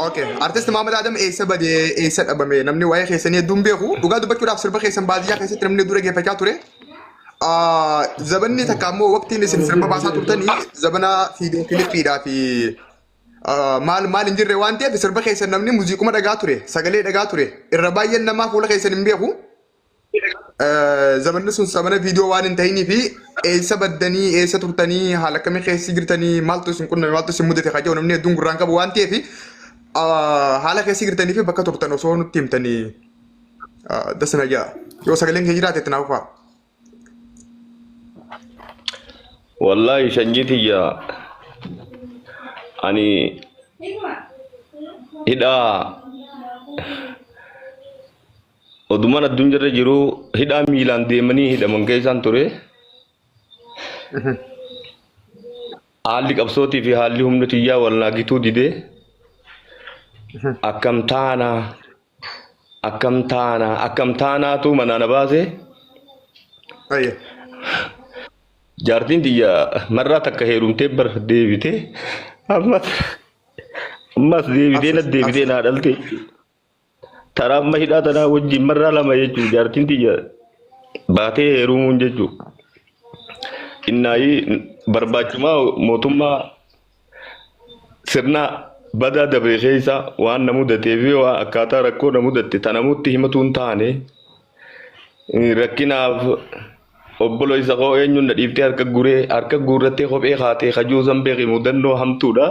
Okay. Artist Maamad Adam eessa badee eessa dhabame namni waa'ee keessanii hedduun beeku. Dhugaa dubbachuudhaaf sirba keessan baadiyyaa keessatti namni hedduu dhaggeeffachaa ture. Ah, Zabanni takka ammoo waqtiin isin sirba baasaa turtanii zabana fiidiyoo kilippiidhaa fi ah, maal maal hin jirre waan ta'eef sirba keessan namni muuziquma dhagaa ture sagalee dhagaa ture irra baay'een namaa fuula keessan hin beeku. Zamanni sun zamana viidiyoo waan hin ta'inii fi eessa baddanii eessa turtanii haala akkamii keessi jirtanii maaltu isin qunname maaltu isin mudate kajaa'u namni hedduun gurraan qabu waan ta'eef haala keessi jirtanii fi bakka turtan osoo nutti himtanii dasa na ja'a. Yoo sagaleen kee jiraate itti naaf faa. Wallaahi sanyii tiyya ani hidhaa Odumaan addunyaarra jiru hidhaa miilaan deemanii hidhaman keessaan ture. Haalli qabsootii fi haalli humna tiyyaa wal naagituu dide. Akkam taana akkam taana akkam taanaatu manaa na baase. Ayya. Jaartiin tiyya marraa takka heerumtee bar deebite. Ammas ammas deebitee na deebitee naa dhalte. Taraa amma hidhaa tanaa wajjin marraa lama jechuun jaartiin tiyya baatee heerumuun jechuun innaayii barbaachumaa mootummaa sirna badaa dabree keessa waan na mudatee fi waan akkaataa rakkoo na mudatte ta namutti himatu hin taane eh, rakkinaaf obboleessa koo eenyuun na dhiiftee harka guree harka guurrattee kophee kaatee kajuu san beeki mudannoo hamtuudha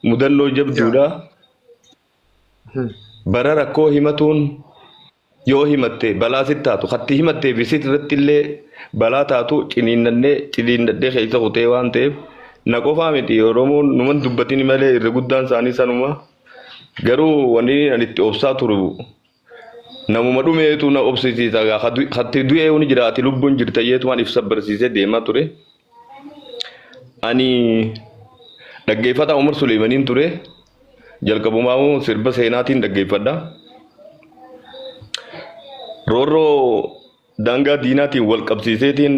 mudannoo jabduudha. Bara rakkoo himatuun yoo himatte balaa sitti taatu katti himattee fi sit irratti illee balaa taatu ciniinnannee ciniinnadhee keessa kutee waan ta'eef na qofaa miti Oromoon numan dubbatini malee irra guddaan isaanii sanuma garuu wanni ani itti obsaa turu Namuma dhumeetu na obsisiisa egaa ka du- katti du'ee huni jira ati lubbuun jirta jeetumaan ibsa barsiisee deemaa ture. Ani dhaggeeffataa Umar Suleeymaniin ture jalqabumaa hoo sirba seenaatiin dhaggeeffadha. Roorroo Daangaa diinaatiin wal qabsiiseetiin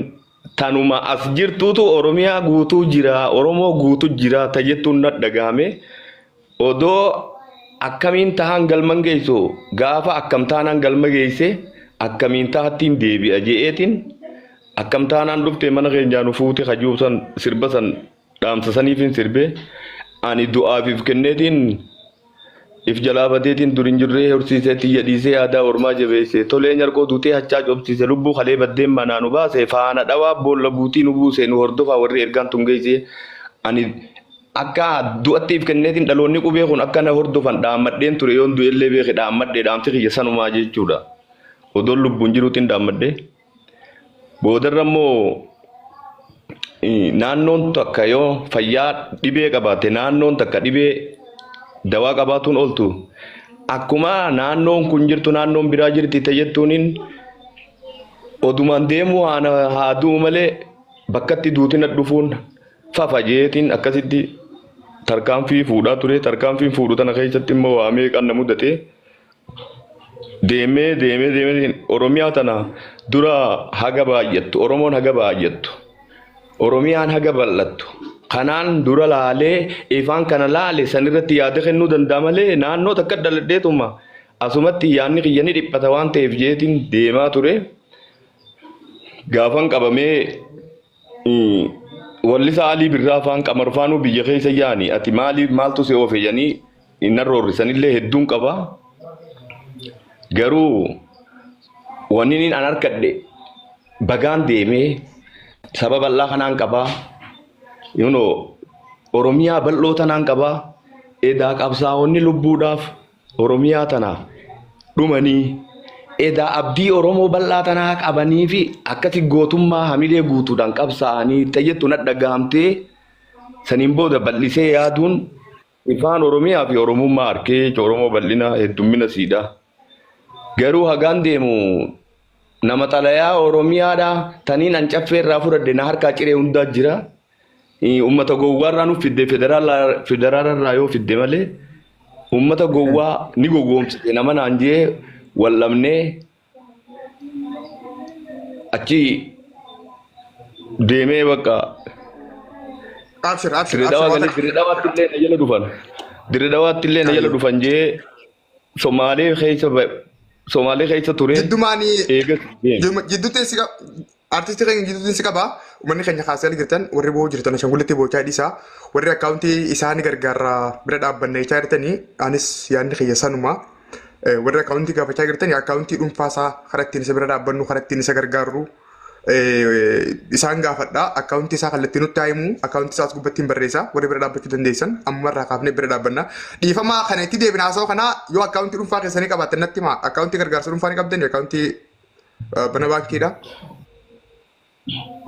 tanuma as jirtuutu Oromiyaa guutuu jira, Oromoo guutu jira ta jettuun na dhagahame. Odoo akkamiin tahaan galman geessu gaafa akkam taanaan galma geesse akkamiin tahattiin deebi'a je'eetiin akkam taanaan dhufte mana keenyaa nu fuute kajuubsan sirba san Dhaamsa saniifin sirbe ani du'aaf if kenneetiin if jalaa badeetiin dur hin jirree horsiisee tiyya dhiisee aadaa ormaa jabeessee tolee nyarqoo duutee hachaa cobsiise lubbuu kalee baddeen manaa nu baase faana dhawaa boolla buutii nu buuse nu hordofaa warri ergaan tun geessee ani akka du'atti if kenneetiin dhaloonni qubee kun akka na hordofan dhaammadheen ture yoon du'ellee beeke dhaammadhe dhaamsi kiyya sanumaa jechuudha odoon lubbuun jiruutiin dhaammadhe. Boodarra immoo naannoon takka yoo fayyaa dhibee qabaatte naannoon takka dhibee dawaa qabaatuun ooltu akkuma naannoon kun jirtu naannoon biraa jirti ta'e jettuuniin odumaan deemuu haana haa du'u malee bakkatti duutina dhufuun fafa jeetiin akkasitti tarkaanfii fuudhaa ture tarkaanfiin fuudhu tana keessatti immoo waa meeqaan na mudate Deemee deemee deemee Oromiyaa tana dura haga baay'attu Oromoon haga baay'attu Oromiyaan haga bal'attu kanaan dura laalee ifaan kana laale san irratti yaada kennuu danda'a malee naannoo takka dhaladheetuma asumatti yaadni kiyya ni dhiphata waan ta'eef jeetiin deemaa ture gaafan qabamee Wallisa Alii Birraa faan Qamar faanuu biyya keessa yaani ati maali maaltu si oofe yanii inna roorrisanillee hedduun qaba garuu wanniin an harkadhe bagaan deemee saba bal'aa kanaan qabaa yuno oromiyaa bal'oo tanaan qabaa edaa qabsaa'onni lubbuudhaaf Oromiyaa tanaaf dhumanii edaa abdii Oromoo bal'aa tanaa qabanii fi akkati gootummaa hamilee guutuudhaan qabsaa'anii itti jettu nadhagahamtee saniin booda bal'isee yaaduun ifaan Oromiyaa fi Oromummaa arkee jecha Oromoo bal'ina heddummina siidha. Garuu hagaan deemu nama xalayaa Oromiyaadha taniin ancaffee irraa fudhadhe na harkaa ciree hundaa jira. Uummata gowwaarraa nu fidde federaalaarraa yoo fidde malee uummata gowwaa ni gowwoomsite nama naan jee wal dhabnee achi deemee bakka Abshir abshir abshir dirreedhawaatti waan illee na jala dhufan dirreedhawaatti illee na jala dhufan jee Somaalee keessa ba- Somaalee keessa ture Jiddumaan eegas deeme. jidduutti si qaba. Artistii keenya jidduutti si qaba. Uummanni keenya kaasee ala jirtan warri boo'u jirtan ashangullitti boochaa dhiisaa. Warri akkaawuntii isaa ni gargaarra bira dhaabbanna jechaa jirtanii anis yaadni kiyya sanuma. Eh, Warri akkaawuntii gaafachaa jirtanii akkaawuntii dhuunfaa isaa karaa ittiin isa bira dhaabbannu karaa ittiin isa gargaarru isaan gaafadhaa akkaawuntii isaa kallattii nutti haa himu akkaawuntii isaas gubbatti hin barreessaa warri bira dhaabbachuu dandeessan amma irraa kaafnee bira dhaabbanna dhiifamaa kana itti deebina haasawaa kanaa yoo akkaawuntii dhuunfaa keessanii qabaattan natti himaa akkaawuntii gargaarsa dhuunfaa ni qabdan akkaawuntii bana baankiidha.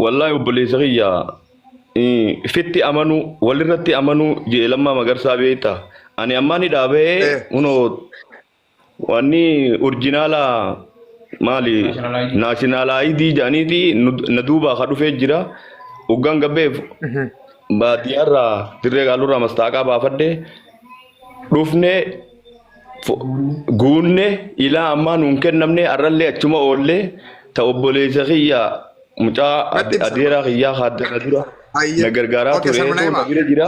Wallaahi obboleessa kiyya fitti amanuu walirratti amanuu jedhe lammaa magarsaa beekta ani ammaa ni dhaabee kunoo Wanni orjinaala maali naashinaalaayidii jedhaniiti nu- na duubaa ka dhufee jira. Hoggaan gabbeef baadiyyaarraa dirree gaalurraa mastaaqaa baafadhe dhufne fo- guunne ilaa ammaa nuun kennamne har'allee achuma oollee ta obboleessa kiyya mucaa Natti ade- himsa. adeeraa kiyyaa haaddana dura Hayyee. na gargaaraa Okay, ture sanuma na na hima. bira jira.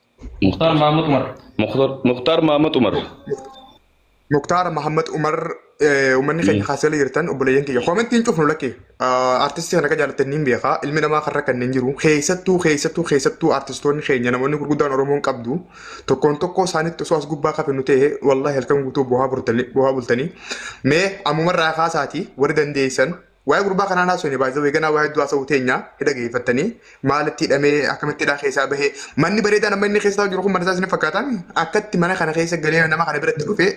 Muktaar Mahammad Umar. Muktar- Muktaar Mahammad Umar. Muktaar Mahammad Umar eh, uummanni keenya kaasela jirtan obboleeyyan kiyya koomentii hin cufnu lakkee artistii kana akka jaallattan ni beekaa ilmi namaa kan rakkanne hin jiru keessattuu keessattuu keessattuu artistoonni keenya namoonni gurguddaan Oromoon qabdu tokkoon tokkoo isaanitti osoo as gubbaa kafinu ta'e wallaahi halkan guutuu bu'aa bultanii bu'aa bultanii mee ammumarraa kaasaatii warri dandeessan Waa'ee gurbaa kanaan haasofne baay'ee zawwee ganaa waa hedduu haasa'uu teenya hidha geeffattanii maalitti hidhamee akkamitti hidhaa keessaa bahee manni bareedaan amma inni keessaa jiru kun mana isaa isin fakkaataan akkatti mana kana keessa galee nama kana biratti dhufee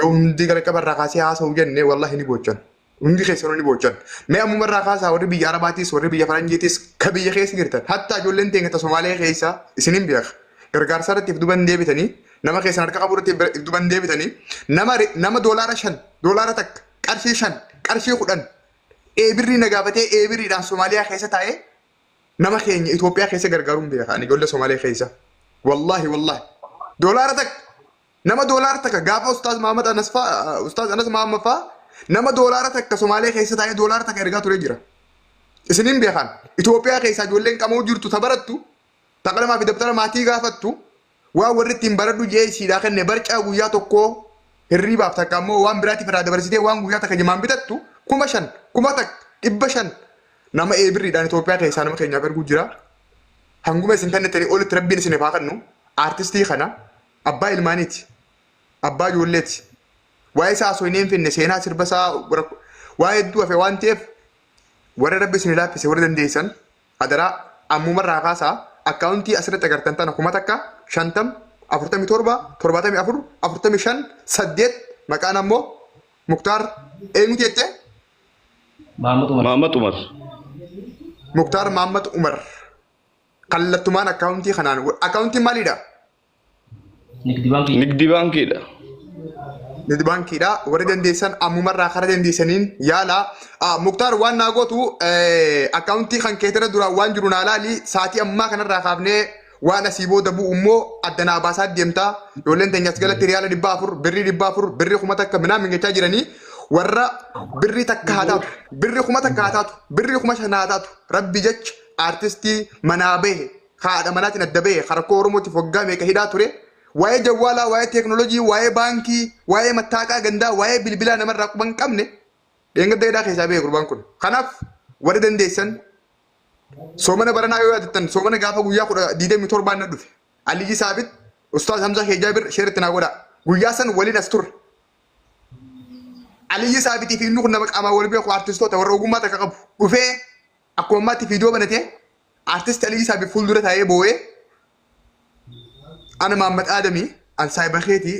yoo hundi jalqaba irraa kaasee haasa'u jenne wallahi ni boochan. Hundi keessanuu ni boochan. Mee ammuma irraa kaasaa warri biyya Arabaatis warri biyya Faranjiitis ka biyya keessa jirtan hatta ijoolleen teenya ta Somaalee keessa isin hin beeka. Gargaarsa irratti if duban deebitanii nama keessan harka qabu irratti if duban deebitanii nama nama doolaara shan doolaara takka qarshii shan qarshii kudhan eebirrii na gaafatee eebirriidhaan Somaaliyaa keessa taa'ee nama keenya Itoophiyaa keessa gargaaruun beeka ani ijoollee Somaaliyaa keessa. Wallaahi wallaahi. Doolaara takka nama doolaara takka gaafa Ustaaz Mahammad Anas faa Ustaaz Anas Mahammad faa nama doolaara takka Somaaliyaa keessa taa'ee doolaara takka ergaa turee jira. Isiniin beekan Itoophiyaa keessaa ijoolleen qamoo jirtu ta barattu Taqlamaa fi dabtara maatii gaafattu waan warri ittiin baradhu je'ee isiidhaa kenne barcaa guyyaa tokkoo hirriibaaf takka ammoo waan biraatiif irraa dabarsitee waan guyyaa takka jimaan bitattu kuma shan kuma takka dhibba shan nama ee birriidhaan Itoophiyaa keessaa nama keenyaaf erguu jira. Hanguma isin tanne ta'e olitti rabbiin isiniif haa kennu aartistii kana abbaa ilmaaniiti abbaa ijoolleeti waa'ee isaa osoo hin finne seenaa sirba isaa rakko- waa hedduu hafe waan ta'eef warra rabbi isin laaffise warra dandeessan Adaraa ammuma irraa kaasaa akkaawuntii asirratti agartan tana kuma takka, shantam, afurtamii torba, torbaatamii afur, afurtamii shan, saddeet maqaan ammoo Muktaar eenyuti jettee? Maammat Umar. Maammat Umar. Muktaar Maammat Umar kallattumaan akkaawuntii kanaan akkaawuntiin maalidha? Nigdi baankii. Nigdi baankiidha. Nigdi baankiidha. Warri dandeessan ammumarraa karaa dandeessaniin yaala. Ah, Muktaar waan naa gootu eh, akkaawuntii kan keetirra duraan waan jiru naa laali. Saatii ammaa kanarraa kaafnee waan asii booda bu'u immoo adda naa baasaa deemta. Ijoolleen teenyas galatti riyaala dhibba afur, birrii dhibba afur, birrii kuma takka minaan mingachaa jiranii. Warra birrii takka haa taatu, birrii kuma takka haa taatu, birrii kuma shan haa taatu. Rabbi jecha aartistii manaa bahe ka haadha manaatiin adda bahe, ka rakkoo Oromootiif waggaa meeqa hidhaa ture, waa'ee jawwaalaa, waa'ee teeknoolojii, waa'ee baankii, waa'ee mattaaqaa gandaa, waa'ee bilbilaa namarraa quba hin qabne dheengadda hidhaa keessaa bahe gurbaan kun. Kanaaf warri dandeessan soomana baranaa yoo yaadattan soomana gaafa guyyaa kudha digdamii torbaan na dhufe. Aliyyi Saabit, Ustaaz Hamzaa Keejaa bir sheeritti naa godhaa. Guyyaa san waliin as turre. Aliyyi Saabitii fi inni kun nama qaamaan wal beeku artistoota warra ogummaa takka qabu. Dhufee akkuma ammaatti viidiyoo banatee Artist Alii Isaa Bi fuuldura taa'ee boo'ee Ana Maammad Aadami an saahiba keetii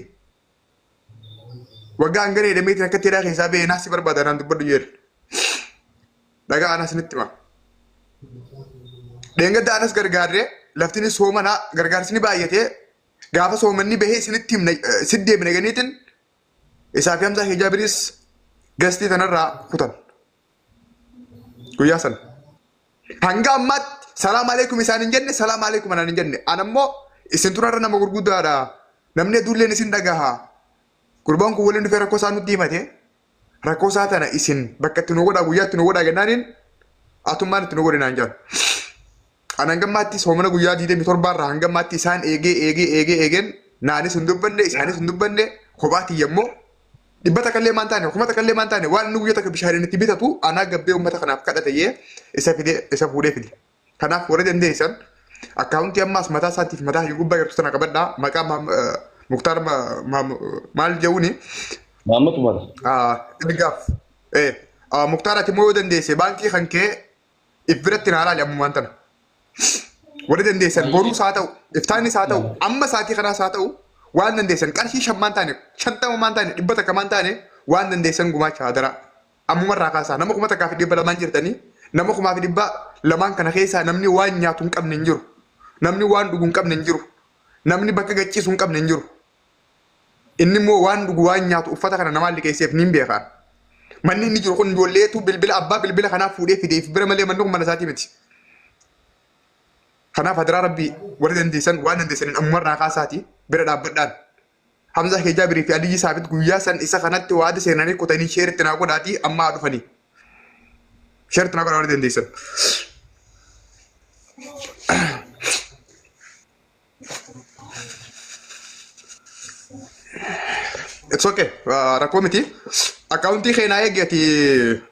waggaa hangana jedhameetiin akka teeraa keessaa ba'ee naasi barbaada naan dubbadhu jedhe. Dhagaa anas nitti hima. Dheengadda anas gargaarree laftinis soomana gargaarsi ni baay'atee gaafa soomanni bahee isinitti himna sitti deebina ganiitiin isaa fi hamsaa hijaabiris gastii tanarraa kutan. Guyyaa sana. Hanga ammaatti salaam aleekum isaan hin jenne salaam aleekum anaan hin jenne. Ana immoo isin turarra nama gurguddaadha. Namni hedduulleen isin dhagaha. Gurbaan kun waliin dhufee rakkoo isaa nutti himate. Rakkoo isaa tana isin bakka itti nu godhaa guyyaa itti nu godhaa jennaaniin atummaan itti nu godhinaan jedhan. An hangammaatti soomana guyyaa 27 irraa hangammaatti isaan eegee eegee eegee eegeen naanis hin dubbanne isaanis hin dubbanne kophaa kiyya immoo dhibba takka illee maan taane kuma takka illee maan taane waan inni guyyaa takka bishaaniin itti bitatu anaa gabbee uummata kanaaf kadhate jee isa fide isa fuudhee fide. Kanaaf warri dandeessan akkaawuntii ammaas mataa isaatiif mataa hiyyu gubbaa jirtu sana qabadhaa maqaa Maam- eh, Muktaar Ma- Maam- maal jehuuni Maamma Tumara. Ah, ergaaf. Eh, ah, Muktaar ati immoo yoo dandeesse baankii kan kee if biratti naa laali ammumaan tana. Warri dandeessan Baay'ee. boruus haa ta'u, iftaannis haa ta'u, amma sa'aatii kanaas haa ta'u, waan dandeessan qarshii shan maan taane, shantama maan taane, dhibba takka maan taane, waan dandeessan gumaacha hadaraa. Ammuma irraa kaasaa nama kuma takkaa fi dhibba lamaan jirtanii, nama kumaa fi dhibba lamaan kana keessaa namni waan nyaatu hin qabne hin jiru. Namni waan dhugu hin qabne hin jiru. Namni bakka gacciisu hin qabne hin jiru. Inni immoo waan dhugu waan nyaatu uffata kana namaan liqeesseef niin beeka. Manni inni jiru kun ijoolleetu bilbila abbaa bilbila kanaaf fuudhee fideef bira malee manni kun mana isaatii miti. Kanaaf hadaraa rabbii warri dandeessan waan dandeessaniin ammumarraa kaasaati bira dhaabbadhaan. Hamzaa kee Jaabirii fi Aliyyi Saabit guyyaa san isa kanatti waada seenanii kutanii sheeritti naa godhaatii amma haa dhufanii. Sheeritti naa godhaa warri dandeessan. It's okay. Uh, rakkoo miti. Akkaawuntii keenyaa eegi ati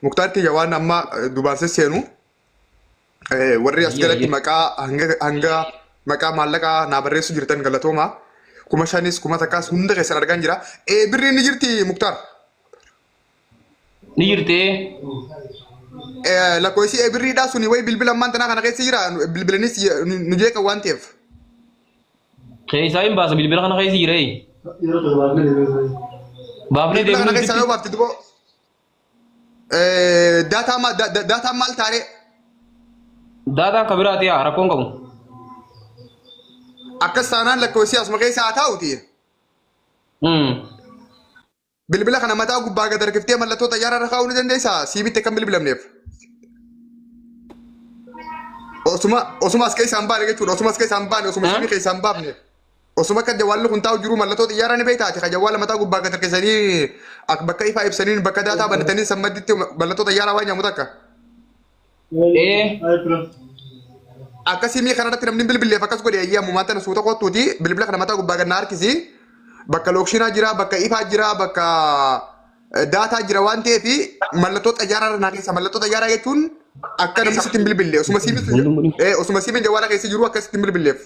muktaar kiyya waan amma dubaansa seenu eh, warri as Eeyyee, jalatti eeyyee. maqaa hanga hanga maqaa maallaqaa naa barreessu jirtan galatooma. Kuma shanis kuma takkaas hunda keessan argaan jira. Eh, birri inni jirti muktaar. Ni jirtee? Lakkoofsi ebirriidhaa suni wayi bilbila ammaan tanaa kana keessa jira bilbilanis nu jeeqa waan ta'eef. Keessaa hin baasa bilbila kana keessa jiree. Baafnee Bilbila kana deemnee keessaa yoo baafte duboo daataa ma- da- da- daataa maal taaree daataan kan biraati yaa rakkoon qabu. akkas taanaan lakkoofsi asuma keessa haa taa'uti. Hmm. Bilbila kana mataa gubbaa gad harkiftee mallattoo xayyaaraa irra kaa'uu ni dandeessaa? Sii bitte kan bilbilamneef. Osuma osuma as keessaa hin baane jechuudha. Osuma as keessaa hin baane osuma siimii keessaa hin baafne. Osuma akka jawwaalli kun taa'u jiru mallattoo xiyyaaraa ni beektaa ati kan jawwaala mataa gubbaa gad harkisanii ak- bakka ifaa ibsaniin bakka daataa banatanii san madditti mallattoo xiyyaaraa waan nyaamu takka. Ee. Akka siimii kanarratti namni bilbileef akkas godhe ayyee ammumaa tana suuta kottuuti bilbila kana mataa gubbaa gannaa harkisi bakka lookshinaa jira bakka ifaa jira bakka eh, daataa jira waan ta'eef mallattoo xayyaaraa irra naa keessa mallattoo xayyaaraa jechuun akka namni sitti hin bilbille osuma siimiin sun Hunduu mudhii. eh, osuma siimiin jawwaala keessa jiru akka sitti hin bilbilleef.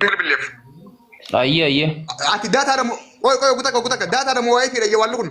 bilbilleef. Ayyee ayyee. Ati daataa dha moo qoy qoy gutakka gutakka daataa dha moo waayee fiidha jawwaalli kun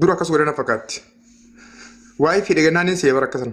Dura akkas godhana fakkaatti. Waa'ee fedhe gannaanin seebara akkasan.